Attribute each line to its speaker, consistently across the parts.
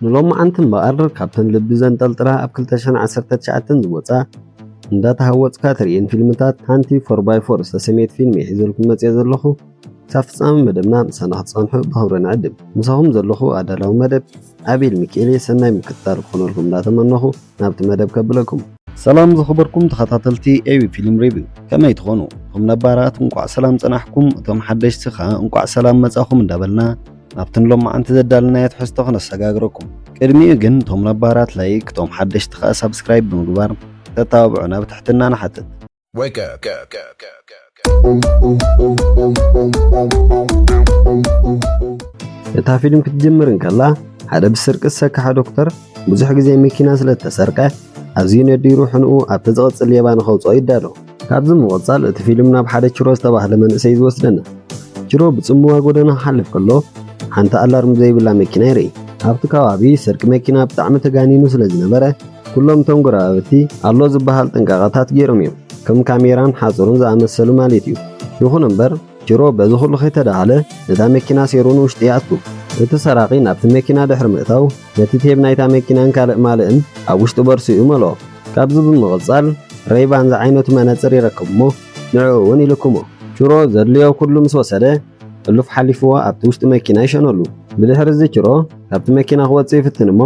Speaker 1: ንሎምዓንቲ እምበኣር ካብተን ልቢ ዘንጠልጥላ ኣብ ክልተ ሽሕን ዓሰርተ ትሽዓተን ዝወጻ እንዳተሃወጽካ ትርእየን ፊልምታት ሓንቲ ፎር ባይ ፎር ዝተሰምየት ፊልም'የ ሒዘልኩም መጺኣ ዘለኹ። ክሳብ ፍጻመ መደብና ምሳና ክትጸንሑ ብኽብሪ ንዕድም። ምሳኹም ዘለኹ ኣዳላዊ መደብ ኣቤል ሚኪኤል'የ ሰናይ ምክትታል ክኾነልኩም እንዳተመነኹ፣ ናብቲ መደብ ከብለኩም። ሰላም ዝኸበርኩም ተኸታተልቲ ኤቢ ፊልም ሪቪው ከመይ ትኾኑ? እቶም ነባራት እንቋዕ ሰላም ጸናሕኩም፣ እቶም ሓደሽቲ ከኣ እንቋዕ ሰላም መጻኹም እንዳበልና ናብቲ ሎማዓንቲ ዘዳለናዮ ትሕዝቶ ክነሰጋግረኩም። ቅድሚኡ ግን እቶም ነባራት ላይክ፣ እቶም ሓደሽቲ ከኣ ሳብስክራይብ ብምግባር ክተተባብዑና ብትሕትና ንሓትት። Wake up. እታ ፊልም ክትጅምር እንከላ ሓደ ብስርቂ ዝሰከሐ ዶክተር ብዙሕ ግዜ መኪና ስለ እተሰርቀ ኣዝዩ ነዲሩ ሕንኡ ኣብቲ ዝቕጽል ሌባ ንኸውጽኦ ይዳሎ። ካብዚ ምቕጻል እቲ ፊልም ናብ ሓደ ችሮ ዝተባህለ መንእሰይ እዩ ዝወስደና። ችሮ ብጽምዋ ጎደና ክሓልፍ ከሎ ሓንቲ ኣላርም ዘይብላ መኪና ይርኢ። ኣብቲ ከባቢ ስርቂ መኪና ብጣዕሚ ተጋኒኑ ስለ ዝነበረ ኩሎም እቶም ጎረባብቲ ኣሎ ዝበሃል ጥንቃቐታት ገይሮም እዮም፣ ከም ካሜራን ሓጹርን ዝኣመሰሉ ማለት እዩ። ይኹን እምበር ቺሮ በዚ ኹሉ ከይተዳሃለ ነታ መኪና ሰይሩ ንውሽጢ ይኣቱ። እቲ ሰራቒ ናብቲ መኪና ድሕሪ ምእታው ነቲ ቴብ ናይታ መኪናን ካልእ ማልእን ኣብ ውሽጢ ቦርሱኡ ይመልኦ። ካብዚ ብምቕጻል ረይባን ዝዓይነቱ መነጽር ይረክብ እሞ ንዕኡ እውን ይልክሞ። ቺሮ ዘድልዮ ኩሉ ምስ ወሰደ ሕሉፍ ሓሊፍዎ ኣብቲ ውሽጢ መኪና ይሸነሉ። ብድሕሪ እዚ ቺሮ ካብቲ መኪና ክወጽእ ይፍትን እሞ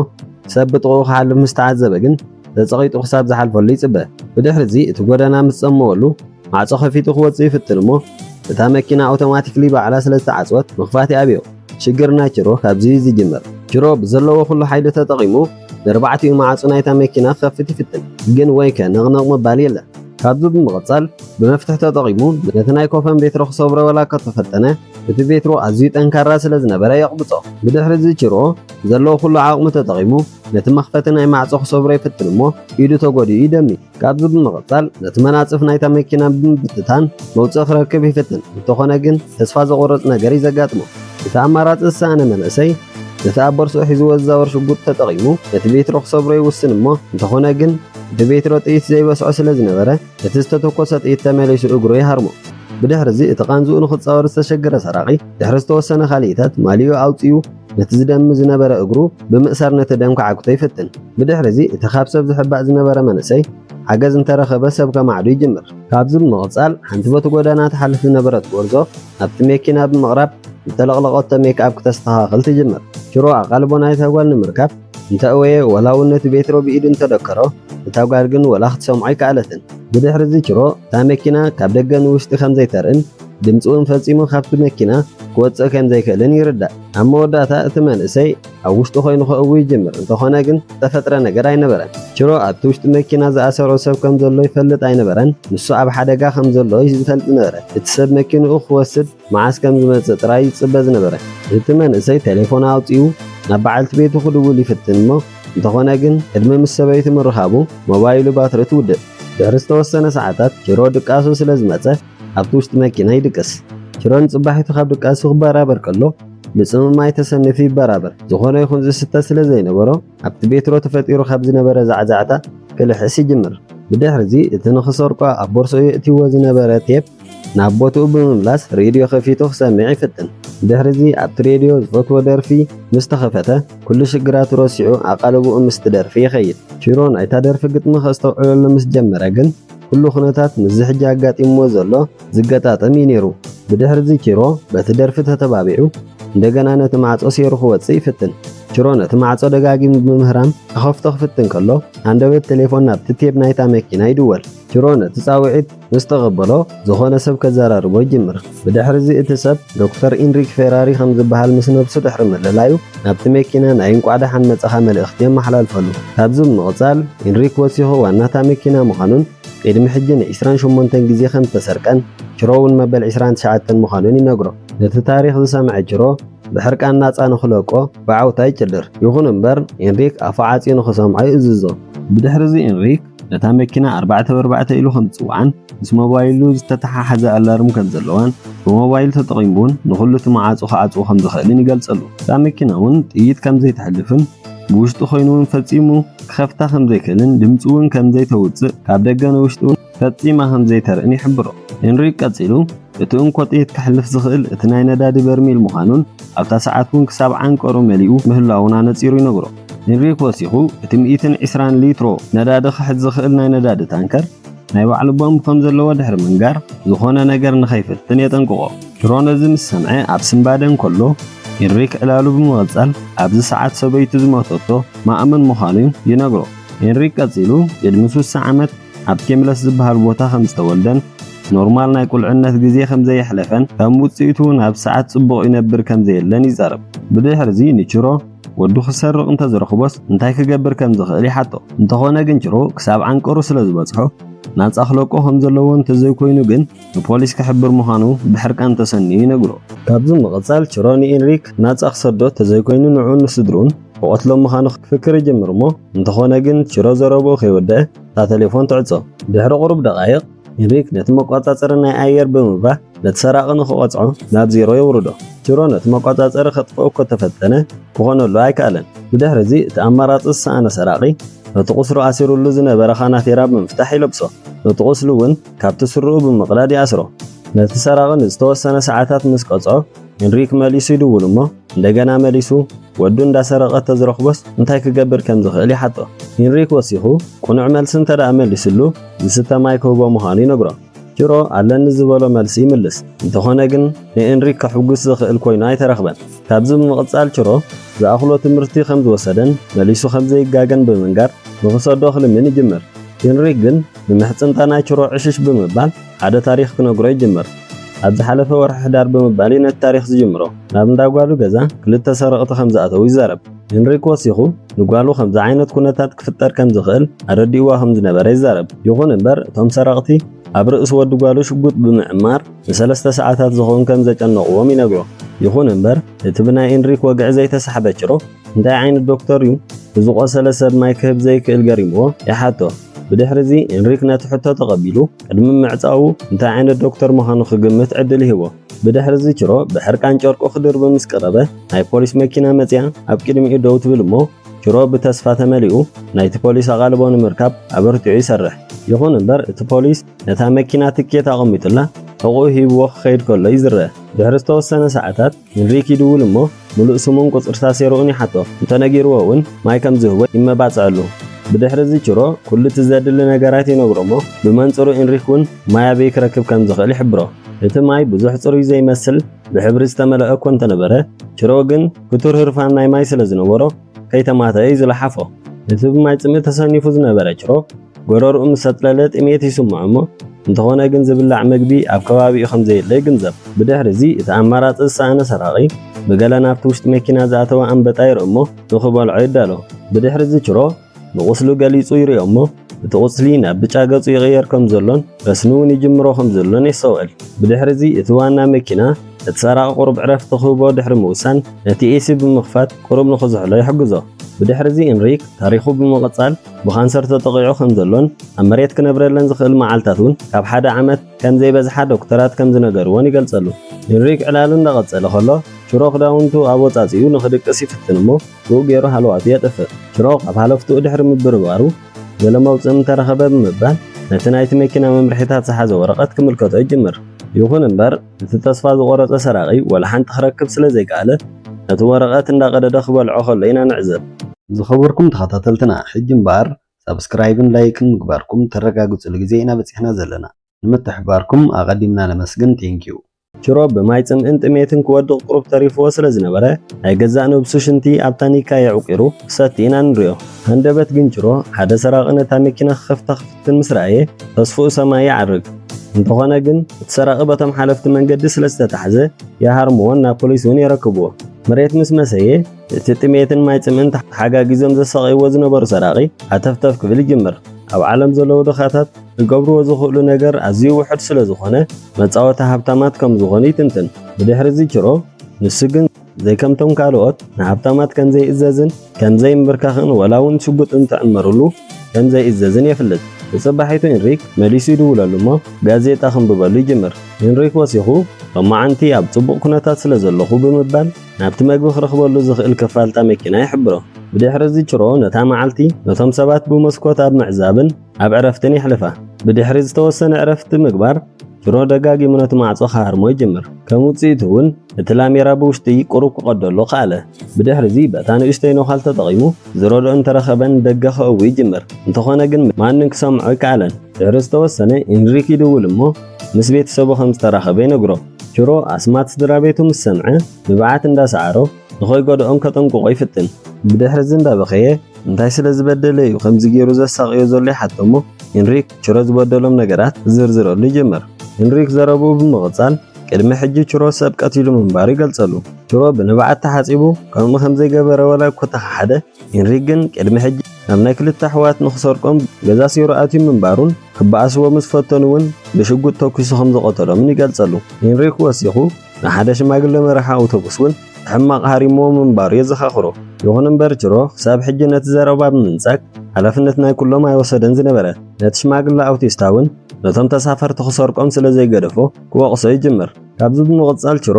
Speaker 1: ሰብ ብጥቕኡ ክሓልፍ ምስ ተዓዘበ ግን ተጸቒጡ ክሳብ ዝሓልፈሉ ይጽበ። ብድሕሪዚ እቲ ጎደና ምስ ጸመወሉ ማዕጾ ከፊቱ ክወጽእ ይፍትን እሞ እታ መኪና ኣውቶማቲክሊ ባዕላ ስለ ዝተዓጽወት ምኽፋት ይኣብዮ። ሽግር ናይ ችሮ ካብዚ እዩ ዝጅምር። ችሮ ብዘለዎ ኩሉ ሓይሉ ተጠቒሙ ንርባዕቲኡ ማዕጹ ናይታ መኪና ክኸፍት ይፍትን፣ ግን ወይከ ነቕነቕ ምባል የለ። ካብዚ ብምቕጻል ብመፍትሕ ተጠቒሙ ነቲ ናይ ኮፈን ቤትሮ ክሰብሮ ወላ እኳ ተፈተነ፣ እቲ ቤትሮ ኣዝዩ ጠንካራ ስለ ዝነበረ የቕብጾ። ብድሕሪ እዚ ቺርኦ ብዘለዎ ኩሉ ዓቕሙ ተጠቒሙ ነቲ መኽፈቲ ናይ ማዕጾ ክሰብሮ ይፍትን እሞ ኢዱ ተጎዲኡ ይደሚ። ካብዚ ብምቕጻል ነቲ መናጽፍ ናይታ መኪና ብምብትታን መውጽኢ ክረክብ ይፍትን፣ እንተኾነ ግን ተስፋ ዘቑርጽ ነገር እዩ ዘጋጥሞ። እቲ ኣማራጺ ዝሰኣነ መንእሰይ ነቲ ኣብ ቦርስኡ ሒዝዎ ዝዛወር ሽጉጥ ተጠቒሙ ነቲ ቤትሮ ክሰብሮ ይውስን እሞ እንተኾነ ግን እቲ ቤትሮ ጥይት ዘይበስዖ ስለ ዝነበረ እቲ ዝተተኮሰ ጥይት ተመሊሱ እግሩ ይሃርሞ። ብድሕርዚ እቲ ቃንዝኡ ንኽጻወር ዝተሸገረ ሰራቒ ድሕሪ ዝተወሰነ ካልኢታት ማልይኡ ኣውጺኡ ነቲ ዝደሚ ዝነበረ እግሩ ብምእሳር ነቲ ደም ክዓግቶ ይፍትን። ብድሕርዚ እቲ ካብ ሰብ ዝሕባእ ዝነበረ መንእሰይ ሓገዝ እንተረኸበ ሰብ ከማዕዱ ይጅምር። ካብዚ ብምቕጻል ሓንቲ በቲ ጎደና ትሓልፍ ዝነበረት ጎርዞ ናብቲ መኪና ብምቕራብ ዝተለቕለቐቶ ሜክኣፕ ክተስተኻኽል ትጅምር። ሽሮ ኣቓልቦ ናይታ ጓል ንምርካብ እንተእወየ ወላውን ነቲ ቤትሮ ብኢዱ እንተደከሮ፣ እታ ጓል ግን ወላ ክትሰምዖ ኣይከኣለትን። ብድሕርዚ ችሮ እታ መኪና ካብ ደገ ንውሽጢ ከም ዘይተርእን ድምጺ'ውን ፈጺሙ ካብቲ መኪና ክወጽእ ከም ዘይክእልን ይርዳእ። ኣብ መወዳእታ እቲ መንእሰይ ኣብ ውሽጡ ኮይኑ ከእዊ ይጅምር፣ እንተኾነ ግን ዝተፈጥረ ነገር ኣይነበረን። ችሮ ኣብቲ ውሽጢ መኪና ዝኣሰሮ ሰብ ከም ዘሎ ይፈልጥ ኣይነበረን፣ ንሱ ኣብ ሓደጋ ከም ዘሎ እዩ ዝፈልጥ ዝነበረ። እቲ ሰብ መኪንኡ ክወስድ መዓስ ከም ዝመጽእ ጥራይ ይጽበ ዝነበረ እቲ መንእሰይ ቴሌፎን ኣውጺኡ ናብ በዓልቲ ቤቱ ክድውል ይፍትን እሞ እንተኾነ ግን ዕድመ ምስ ሰበይቱ ምርኻቡ ሞባይሉ ባትሪ ትውድእ። ድሕሪ ዝተወሰነ ሰዓታት ቺሮ ድቃሱ ስለ ዝመጸ ኣብቲ ውሽጢ መኪና ይድቅስ። ቺሮ ንጽባሒቱ ካብ ድቃሱ ክበራበር ከሎ ምጽምማይ ተሰኒፉ ይበራበር። ዝኾነ ይኹን ዝስተ ስለ ዘይነበሮ ኣብቲ ቤትሮ ተፈጢሩ ካብ ዝነበረ ዛዕዛዕታ ክልሕስ ይጅምር። ብድሕሪዚ እቲ ንኽሰርቆ ኣብ ቦርሳኡ የእትይዎ ዝነበረ ቴፕ ናብ ቦትኡ ብምምላስ ሬድዮ ከፊቱ ክሰምዕ ይፍትን። ድሕሪዚ ኣብቲ ሬድዮ ዝፈትዎ ደርፊ ምስ ተኸፈተ ኩሉ ሽግራቱ ረሲዑ ኣቓልቦኡ ምስቲ ደርፊ ይኸይድ። ሽሮ ናይታ ደርፊ ግጥሚ ከስተውዕለሉ ምስ ጀመረ ግን ኩሉ ኩነታት ምስዚ ሕጂ ኣጋጢምዎ ዘሎ ዝገጣጠም እዩ ነይሩ። ብድሕሪዚ ቺሮ በቲ ደርፊ ተተባቢዑ እንደገና ነቲ ማዕጾ ሴሩ ክወጽእ ይፍትን። ቺሮ ነቲ ማዕጾ ደጋጊሙ ብምህራም ክኸፍቶ ክፍትን ከሎ ሃንደበት ቴሌፎን ናብቲ ቴብ ናይታ መኪና ይድወል። ቺሮ ነቲ ጻውዒት ምስ ተቐበሎ፣ ዝኾነ ሰብ ከዘራርቦ ይጅምር። ብድሕርዚ እቲ ሰብ፣ ዶክተር ኢንሪክ ፌራሪ ከም ዝበሃል ምስ ነብሱ ድሕሪ ምልላዩ፣ ናብቲ መኪና ናይ እንቋዕ ደሓን መጻኻ መልእኽቲ የመሓላልፈሉ። ካብዚ ብምቕጻል፣ ኢንሪክ ወሲኹ ዋና'ታ መኪና ምዃኑን ቅድሚ ሕጂ ን ዕስራን ሸሞንተን ግዜ ከም ዝተሰርቀን ችሮ'ውን መበል ዕስራን ትሽዓተን ምዃኑን ይነግሮ። ነቲ ታሪኽ ዝሰምዐ ችሮ፣ ብሕርቃን ናጻ ንኽለቆ ብዓውታ ይጭድር። ይኹን እምበር፣ ኢንሪክ ኣፉ ዓጽዩ ንኽሰምዖ ይእዝዞ። ብድሕርዚ ኢንሪክ፣ ነታ መኪና ኣርባዕተ በርባዕተ ኢሉ ከምጽዋን ምስ ሞባይሉ ዝተተሓሓዘ ኣላርም ከም ዘለዋን ብሞባይሉ ተጠቒሙ እውን ንኹሉ እቲ መዓጹ ክዓጽዎ ከም ዝኽእልን ይገልጸሉ። እታ መኪና እውን ጥይት ከም ዘይተሕልፍን ብውሽጢ ኮይኑ እውን ፈጺሙ ክኸፍታ ከም ዘይክእልን ድምጺ እውን ከም ዘይተውጽእ ካብ ደገ ንውሽጢ እውን ፈጺማ ከም ዘይተርእን ይሕብሮ። ሄንሪክ ቀጺሉ እቲ እንኮ ጥይት ከሕልፍ ዝኽእል እቲ ናይ ነዳዲ በርሚል ምዃኑን ኣብታ ሰዓት እውን ክሳብ ዓንቀሩ መሊኡ ምህላዉን ኣነጺሩ ይነግሮ። ኢንሪክ ወሲኹ፣ እቲ ሚእትን ዕስራን ሊትሮ ነዳዲ ክሕዝ ዝኽእል ናይ ነዳዲ ታንከር ናይ ባዕሉ ቦምብ ከም ዘለዎ ድሕሪ ምንጋር፣ ዝዀነ ነገር ንኸይፍትን የጠንቅቖ። ሽሮ ነዚ ምስ ሰምዐ ኣብ ስንባደ እንከሎ፣ ኢንሪክ ዕላሉ ብምቕጻል ኣብዚ ሰዓት ሰበይቱ ዝሞተቶ ማእምን ምዃኑ ይነግሮ። ኢንሪክ ቀጺሉ፣ ቅድሚ ስሳ ዓመት ኣብ ኬምለስ ዝበሃል ቦታ ከም ዝተወልደን ኖርማል ናይ ቁልዕነት ግዜ ከም ዘየሕለፈን ከም ውጽኢቱ'ውን ኣብ ሰዓት ጽቡቕ ይነብር ከም ዘየለን ይዛረብ። ብድሕርዚ ንቺሮ፣ ወዱ ክሰርቕ እንተ ዝረኽቦስ እንታይ ክገብር ከም ዝኽእል ይሓቶ። እንተኾነ ግን ጭሮ ክሳብ ዓንቀሩ ስለ ዝበጽሖ ናጻ ክለቆ ከም ዘለዎ እንተ ዘይኮይኑ ግን ንፖሊስ ክሕብር ምዃኑ ብሕርቃን ተሰንዩ ይነግሮ። ካብዚ ምቕጻል ጭሮ ንኢንሪክ ናጻ ክሰዶ እንተ ዘይኮይኑ ንዕኡን ንስድርኡን ክቐትሎም ምዃኑ ክፍክር ይጅምር እሞ እንተኾነ ግን ጭሮ ዘረብኡ ከይወደኣ እታ ተሌፎን ትዕጾ። ድሕሪ ቁሩብ ደቓይቕ ሚኒሊክ ነቲ መቆጻጸሪ ናይ ኣየር ብምብራህ ነቲ ሰራቒ ንኽቐጽዖ ናብ ዜሮ የውርዶ። ቲሮ ነቲ መቆጻጸሪ ከጥፍኦ እኮ ተፈተነ፣ ክኾነሉ ኣይከኣለን። ብድሕሪ እዚ እቲ ኣማራጺ ዝሰኣነ ሰራቒ ነቲ ቁስሉ ኣሲሩሉ ዝነበረ ካናቴራ ብምፍታሕ ይለብሶ፣ ነቲ ቁስሉ እውን ካብቲ ስረኡ ብምቕዳድ ይኣስሮ። ነቲ ሰራቒ ንዝተወሰነ ሰዓታት ምስ ቀጽዖ፣ ሚኒሊክ መሊሱ ይድውል እሞ እንደገና መሊሱ ወዱ እንዳሰረቐ ተዝረኽቦስ እንታይ ክገብር ከም ዝኽእል ይሓቶ። ሂንሪክ ወሲኹ ቁኑዕ መልሲ እንተደኣ መሊስሉ ዝስተ ማይ ክህቦ ምዃኑ ይነግሮ። ጅሮ ኣለኒ ዝበሎ መልሲ ይምልስ። እንተኾነ ግን ንኤንሪክ ከሕጉስ ዝኽእል ኮይኑ ኣይተረኽበን። ካብዚ ብምቕጻል ችሮ ዝኣኽሎ ትምህርቲ ከም ዝወሰደን መሊሱ ከም ዘይጋገን ብምንጋር ንኽሰዶ ክልምን ይጅምር። ሂንሪክ ግን ንምሕጽንታ ናይ ችሮ ዕሽሽ ብምባል ሓደ ታሪኽ ክነግሮ ይጅምር። ኣብ ዝሓለፈ ወርሒ ሕዳር ብምባል'ዩ ነቲ ታሪኽ ዝጅምሮ። ናብ እንዳ ጓሉ ገዛ ክልተ ሰረቕቲ ከም ዝኣተዉ ይዛረብ። ሄንሪክ ወሲኹ፣ ንጓሉ ከምዚ ዓይነት ኵነታት ክፍጠር ከም ዝኽእል ኣረዲእዋ ከም ዝነበረ ይዛረብ። ይዅን እምበር፣ እቶም ሰረቕቲ ኣብ ርእሲ ወዲ ጓሉ ሽጉጥ ብምዕማር ንሰለስተ ሰዓታት ዝኸውን ከም ዘጨነቕዎም ይነግሮ። ይዅን እምበር፣ እቲ ብናይ ኤንሪክ ወግዒ ዘይተሳሕበ ጭሩቕ፣ እንታይ ዓይነት ዶክተር እዩ ንዝቖሰለ ሰብ ማይ ክህብ ዘይክእል ገሪምዎ ይሓቶ። ብድሕሪዚ ኢንሪክ ነቲ ሕቶ ተቐቢሉ ቅድሚ ምዕጻዉ እንታይ ዓይነት ዶክተር ምዃኑ ክግምት ዕድል ይህቦ። ብድሕሪዚ ችሮ ብሕርቃን ጨርቁ ክድርቢ ምስ ቀረበ ናይ ፖሊስ መኪና መጺኣ ኣብ ቅድሚኡ ደው ትብል እሞ ችሮ ብተስፋ ተመሊኡ ናይቲ ፖሊስ ኣቓልቦ ንምርካብ ኣበርቲዑ ይሰርሕ። ይኹን እምበር እቲ ፖሊስ ነታ መኪና ትኬት ኣቐሚጡላ ሕቑኡ ሂብዎ ክኸይድ ከሎ እዩ ዝረኣ። ድሕሪ ዝተወሰነ ሰዓታት ንሪኪዱ እውን እሞ ምሉእ ስሙን ቁጽርታ ሴሮኡን ይሓቶ። እንተ ነጊርዎ እውን ማይ ከም ዝህቦ ይመባጸኣሉ። ብድሕሪ እዚ ቺሮ ኩሉ እቲ ዘድሊ ነገራት ይነግሮ እሞ ብመንጽሩ ኢንሪክ እውን ማይ ኣበይ ክረክብ ከም ዝኽእል ይሕብሮ። እቲ ማይ ብዙሕ ጽሩይ ዘይመስል ብሕብሪ ዝተመልኣ እኮ እንተ ነበረ ቺሮ ግን ክቱር ህርፋን ናይ ማይ ስለ ዝነበሮ ከይተማተኣ እዩ ዝለሓፎ። እቲ ብማይ ጽምኢ ተሰኒፉ ዝነበረ ቺሮ ጎረርኡ ምስ ኣጽለለ ጥሜት ይስምዖ እሞ እንተኾነ ግን ዝብላዕ መግቢ ኣብ ከባቢኡ ከም ዘየለ ይግንዘብ። ብድሕሪ እዚ እቲ ኣማራጺ ዝሰኣነ ሰራቒ ብገለ ናብቲ ውሽጢ መኪና ዝኣተወ ኣንበጣ ይርኢ እሞ ንኽበልዖ ይዳሎ። ብድሕሪ እዚ ችሮ ንቑስሉ ገሊጹ ይሪኦ እሞ እቲ ቁስሊ ናብ ብጫ ገጹ ይቕየር ከም ዘሎን ረስኒ እውን ይጅምሮ ከም ዘሎን የስተውዕል። ብድሕሪ እዚ እቲ ዋና መኪና እቲ ሰራቒ ቁሩብ ዕረፍቲ ክህቦ ድሕሪ ምውሳን ነቲ ኤሲ ብምኽፋት ቁሩብ ንኽዝሕሎ ይሕግዞ። ብድሕሪ እዚ እንሪክ ታሪኹ ብምቕጻል ብካንሰር ተጠቒዑ ከም ዘሎን ኣብ መሬት ክነብረለን ዝኽእል መዓልታት እውን ካብ ሓደ ዓመት ከም ዘይበዝሓ ዶክተራት ከም ዝነገርዎን ይገልጸሉ። ሄንሪክ ዕላሉ እንዳቐጸለ ከሎ ሽሮ ክዳውንቱ ኣወጻጺኡ ንኽድቅስ ይፍትን እሞ ብኡ ገይሩ ሃለዋቱ የጥፍእ። ሽሮ ኣብ ሃለፍትኡ ድሕሪ ምብርባሩ ገለ መውጽኢ ምተረኸበ ብምባል ነቲ ናይቲ መኪና መምርሒታት ዝሓዘ ወረቐት ክምልከቶ ይጅምር። ይኹን እምበር፣ እቲ ተስፋ ዝቖረጸ ሰራቒ ወላ ሓንቲ ክረክብ ስለ ዘይከኣለ ነቲ ወረቐት እንዳቐደደ ክበልዖ ከሎ ኢና ንዕዘብ። ዝኸበርኩም ተኸታተልትና ሕጂ እምበኣር ሳብስክራይብን ላይክን ምግባርኩም ተረጋግጹሉ ግዜ ኢና በጺሕና ዘለና። ንምትሕብባርኩም ኣቐዲምና ነመስግን Thank you። ቺሮ ብማይ ጽምእን ጥሜትን ክወድቕ ቁሩብ ተሪፍዎ ስለ ዝነበረ ናይ ገዛእ ነብሱ ሽንቲ ኣብ ታኒካ የዕቊሩ ክሰቲ ኢና ንሪኦ። ሃንደበት ግን ቺሮ ሓደ ሰራቒ ነታ መኪና ክኸፍታ እቲ ምስ ረኣየ ተስፍኡ ሰማይ ይዓርግ። እንተኾነ ግን እቲ ሰራቒ በቶም ሓለፍቲ መንገዲ ስለ ዝተታሕዘ ይሃርምዎን ናብ ፖሊስ እውን የረክብዎ። መሬት ምስ መሰየ እቲ ጥሜትን ማይ ጽምእን ተሓጋጊዞም ዘሳቕይዎ ዝነበሩ ሰራቒ ሃተፍተፍ ክብል ይጅምር። ኣብ ዓለም ዘለዉ ድኻታት ክገብርዎ ዝኽእሉ ነገር ኣዝዩ ውሑድ ስለ ዝኾነ መጻወቲ ሃብታማት ከም ዝኾኑ ይትንትን። ብድሕሪ እዚ ችሮ ንሱ ግን። ዘይከምቶም ካልኦት ንሃብታማት ከም ዘይእዘዝን ከም ዘይምብርካኽን ወላ እውን ሽጉጥ እንትዕመርሉ ከም ዘይእዘዝን የፍልጥ። ብጽባሒቱ ኢንሪክ መሊሱ ይድውለሉ እሞ ጋዜጣ ክንብበሉ ይጅምር። ኢንሪክ ወሲኹ ሎማዓንቲ ኣብ ጽቡቕ ኩነታት ስለ ዘለኹ ብምባል ናብቲ መግቢ ክረኽበሉ ዝኽእል ክፋል እታ መኪና ይሕብሮ። ብድሕሪ እዚ ችሮ ነታ መዓልቲ ነቶም ሰባት ብመስኮት ኣብ ምዕዛብን ኣብ ዕረፍትን የሕልፋ። ብድሕሪ ዝተወሰነ ዕረፍቲ ምግባር፣ ድሮ ደጋጊሙ ነቲ ማዕጾ ክሃርሞ ይጅምር። ከም ውጽኢቱ እውን እቲ ላሜራ ብውሽጢ ቁሩብ ክቐደሉ ከኣለ። ብድሕርዚ በታ ንእሽተይ ነዃል ተጠቒሙ ዝረድኦ እንተረኸበ ንደገ ከእዊ ይጅምር። እንተኾነ ግን ማንም ክሰምዖ ኣይከኣለን። ድሕሪ ዝተወሰነ ኢንሪክ ይድውል እሞ ምስ ቤተሰቡ ከም ዝተራኸበ ይነግሮ። ቹሮ ኣስማት ስድራቤቱ ምስ ሰምዐ ንብዓት እንዳሰዓሮ ንኸይጎድኦም ከጠንቅቖ ይፍትን። ብድሕርዚ እንዳበኸየ እንታይ ስለ ዝበደለ እዩ ከምዚ ገይሩ ዘሳቕዮ ዘሎ ይሓቶ እሞ ኢንሪክ ችሮ ዝበደሎም ነገራት ዝዝርዝረሉ ይጅምር። ሂንሪክ ዘረብኡ ብምቕጻል፣ ቅድሚ ሕጂ ችሮ ሰብ ቀቲሉ ምንባሩ ይገልጸሉ። ችሮ ብንብዓት ተሓጺቡ ከምኡ ከም ዘይገበረ ዋላ እኮ ተኸሓደ፣ ሂንሪክ ግን ቅድሚ ሕጂ ናብ ናይ ክልተ ኣሕዋት ንኽሰርቆም ገዛ ሴሩ ኣትዩ ምንባሩን ክበኣስዎ ምስ ፈተኑ እውን ብሽጉጥ ተኲሱ ከም ዝቐተሎምን ይገልጸሉ። ሂንሪክ ወሲኹ፣ ንሓደ ሽማግለ መራሒ ኣውቶቡስ እውን ሕማቕ ሃሪምዎ ምንባሩ የዘኻኽሮ። ይኹን እምበር ጅሮ ክሳብ ሕጂ ነቲ ዘረባ ብምንጻግ ሓላፍነት ናይ ኩሎም ኣይወሰደን ዝነበረ። ነቲ ሽማግለ ኣውቲስታ እውን ነቶም ተሳፈርቲ ክሰርቆም ስለ ዘይገደፎ ክወቕሶ ይጅምር። ካብዚ ብምቕጻል ችሮ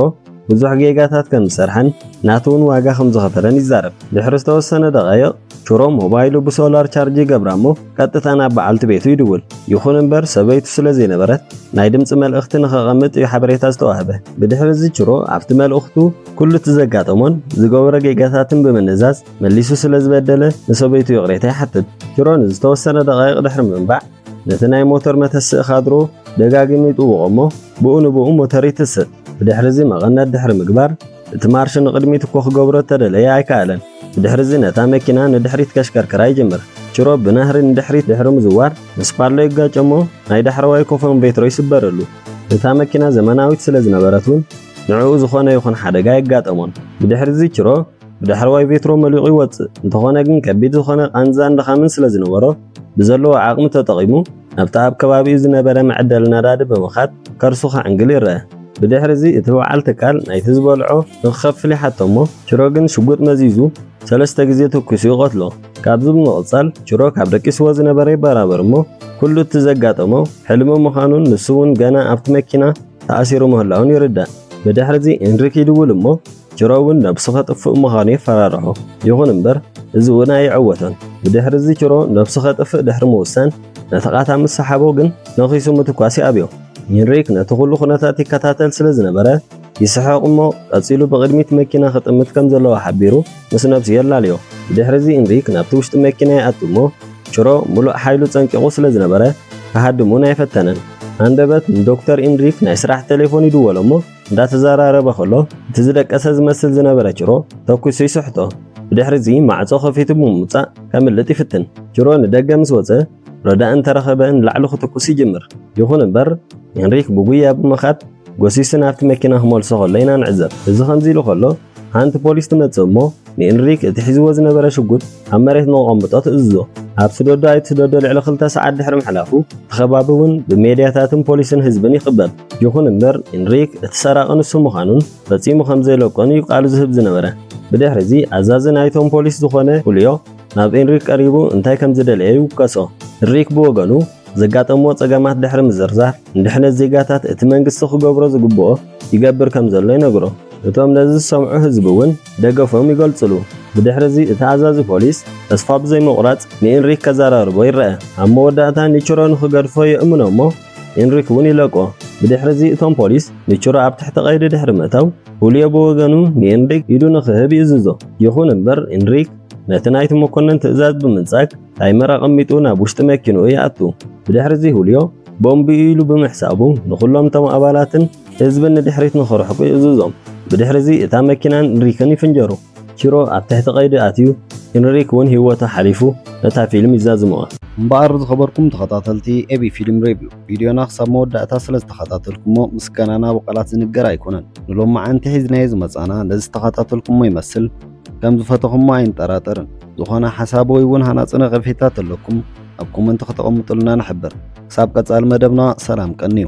Speaker 1: ብዙሕ ጌጋታት ከም ዝሰርሐን ናቱ እውን ዋጋ ከም ዝኸፈለን ይዛረብ። ድሕሪ ዝተወሰነ ደቓይቕ ቹሮ ሞባይሉ ብሶላር ቻርጅ ይገብራ እሞ ቀጥታ ናብ በዓልቲ ቤቱ ይድውል። ይኹን እምበር ሰበይቱ ስለ ዘይነበረት ናይ ድምጺ መልእኽቲ ንኸቐምጥ እዩ ሓበሬታ ዝተዋህበ። ብድሕሪ እዚ ቹሮ ኣብቲ መልእኽቱ ኩሉ እቲ ዘጋጠሞን ዝገበሮ ጌጋታትን ብምንዛዝ መሊሱ ስለ ዝበደለ ንሰበይቱ ይቕሬታ ይሓትት። ቹሮ ንዝተወሰነ ደቓይቕ ድሕሪ ምንባዕ ነቲ ናይ ሞተር መተስእ ካድሮ ደጋጊሙ ይጥውቖ እሞ ብኡ ንብኡ ሞተር ይትስእ። ብድሕሪ እዚ መቐነት ድሕሪ ምግባር እቲ ማርሽ ንቕድሚት እኮ ክገብሮ እተደለየ ኣይከኣለን። ብድሕርዚ ነታ መኪና ንድሕሪት ከሽከርክራ ይጅምር። ቺሮብ ብናህሪ ንድሕሪት ድሕሪ ምዝዋር ምስ ፓሎ ይጋጨ'ሞ ናይ ዳሕረዋይ ኮፎን ቬትሮ ይስበረሉ። እታ መኪና ዘመናዊት ስለ ዝነበረት ውን ንዕኡ ዝኾነ ይኹን ሓደጋ ኣየጋጠሞን። ብድሕርዚ ቺሮ ብዳሕረዋይ ቬትሮ መሊቑ ይወጽእ። እንተኾነ ግን ከቢድ ዝኾነ ቃንዛን ድኻምን ስለ ዝነበሮ ብዘለዎ ዓቕሚ ተጠቒሙ ናብቲ ኣብ ከባቢኡ ዝነበረ መዐደሊ ነዳዲ ብምኻድ ከርሱ ከዕንግል ይረኣ። ብድሕሪ እዚ እቲ ወዓል ትካል ናይቲ ዝበልዖ ንክኸፍል ይሓቶ እሞ ችሮ ግን ሽጉጥ መዚዙ ሰለስተ ግዜ ተኲሱ ይቐትሎ። ካብዚ ብምቕጻል ችሮ ካብ ደቂስዎ ዝነበረ ይበራበር እሞ ኩሉ እቲ ዘጋጠሞ ሕልሚ ምዃኑን ንሱ እውን ገና ኣብቲ መኪና ተኣሲሩ ምህላዉን ይርዳእ። ብድሕሪ እዚ ኤንሪክ ይድውል እሞ ችሮ'ውን ነብሱ ከጥፍእ ምዃኑ የፈራርሖ። ይኹን እምበር እዚ'ውን ኣይዕወቶን። ብድሕሪ'ዚ ችሮ ነብሱ ከጥፍእ ድሕሪ ምውሳን ነቲ ቃታ ምስ ሰሓቦ ግን ነኺሱ ምትኳስ ይኣብዮ። ሄንሪክ ነቲ ኩሉ ኩነታት ይከታተል ስለ ዝነበረ ይስሕቕ እሞ ቀጺሉ ብቕድሚት መኪና ክጥምት ከም ዘለዎ ሓቢሩ ምስ ነብሱ የላልዮ። ብድሕሪ'ዚ ሄንሪክ ናብቲ ውሽጢ መኪና ይኣቱ እሞ ችሮ ምሉእ ሓይሉ ጸንቂቑ ስለ ዝነበረ ክሃድም'ውን ኣይፈተነን። ሃንደበት ንዶክተር ሄንሪክ ናይ ስራሕ ተሌፎን ይድወሎ እሞ እንዳተዘራረበ ከሎ እቲ ዝደቀሰ ዝመስል ዝነበረ ጅሮ ተኩሱ ይስሕቶ። ብድሕሪ እዚ ማዕጾ ከፊቱ ብምውጻእ ከምልጥ ይፍትን። ጅሮ ንደገ ምስ ወጸ ረዳእ እንተረኸበ ንላዕሊ ክትኩስ ይጅምር። ይኹን እምበር ሄንሪክ ብጉያ ብምኻድ ጎሲሱ ናብቲ መኪና ክመልሶ ከሎ ኢና ንዕዘብ። እዚ ከምዚ ኢሉ ከሎ ሓንቲ ፖሊስ ትመጽእ እሞ ንኢንሪክ እቲ ሒዝዎ ዝነበረ ሽጉጥ ኣብ መሬት ንኸቐምጦ ትእዝዞ። ኣብ ስደዶ ኣይትስደዶ ልዕሊ ክልተ ሰዓት ድሕሪ ምሕላፉ፣ እቲ ከባቢ እውን ብሜድያታትን ፖሊስን ህዝብን ይኽበብ። ይኹን እምበር፣ ኢንሪክ እቲ ሰራቒ ንሱ ምዃኑን ፈጺሙ ከም ዘይለቆን እዩ ቃሉ ዝህብ ዝነበረ። ብድሕሪዚ፣ ኣዛዚ ናይቶም ፖሊስ ዝኾነ ኹልዮ ናብ ኢንሪክ ቀሪቡ እንታይ ከም ዝደለየ ይውከሶ። ኢንሪክ ብወገኑ፣ ዘጋጠምዎ ጸገማት ድሕሪ ምዝርዛር፣ ንድሕነት ዜጋታት እቲ መንግስቲ ክገብሮ ዝግብኦ ይገብር ከም ዘሎ ይነግሮ። እቶም ነዚ ዝሰምዑ ህዝቢ እውን ደገፎም ይገልጹሉ። ብድሕሪ እዚ እቲ ኣዛዚ ፖሊስ ተስፋ ብዘይምቑራጽ ንኢንሪክ ከዘራርቦ ይረኣ። ኣብ መወዳእታ ኒችሮ ንኽገድፎ የእምኖ እሞ ኢንሪክ እውን ይለቆ። ብድሕሪ እዚ እቶም ፖሊስ ኒችሮ ኣብ ትሕቲ ቀይዲ ድሕሪ ምእታው ሁልዮ ብወገኑ ንኢንሪክ ኢዱ ንኽህብ ይእዝዞ። ይኹን እምበር ኢንሪክ ነቲ ናይቲ መኮነን ትእዛዝ ብምንጻግ፣ ታይመር ኣቐሚጡ ናብ ውሽጢ መኪንኡ ይኣቱ። ብድሕሪ'ዚ ሁልዮ ቦምብ'ዩ ኢሉ ብምሕሳቡ ንኹሎም እቶም ኣባላትን ህዝብን ንድሕሪት ንኽርሕቁ ይእዝዞም። ብድሕሪ'ዚ እታ መኪናን እንሪክን ይፍንጀሩ። ቺሮ ኣብ ትሕቲ ቀይዲ ኣትዩ፣ ኢንሪክ እውን ህይወቱ ሓሊፉ ነታ ፊልም ይዛዝምዋ። እምበኣር ዝኸበርኩም ተኸታተልቲ ኤቢ ፊልም ሬቪው፣ ቪድዮና ክሳብ መወዳእታ ስለ ዝተኸታተልኩሞ ምስጋናና ብቓላት ዝንገር ኣይኮነን። ንሎምዓንቲ ሒዝናዮ ዝመጻእና ነዚ ዝተኸታተልኩሞ ይመስል። ከም ዝፈተኹሞ ኣይንጠራጠርን። ዝኾነ ሓሳብ ወይ እውን ሃናጺ ነቐፌታ ተለኩም ኣብ ኮመንት ከተቐምጡልና ንሕብር። ክሳብ ቀጻሊ መደብና ሰላም ቀንዩ።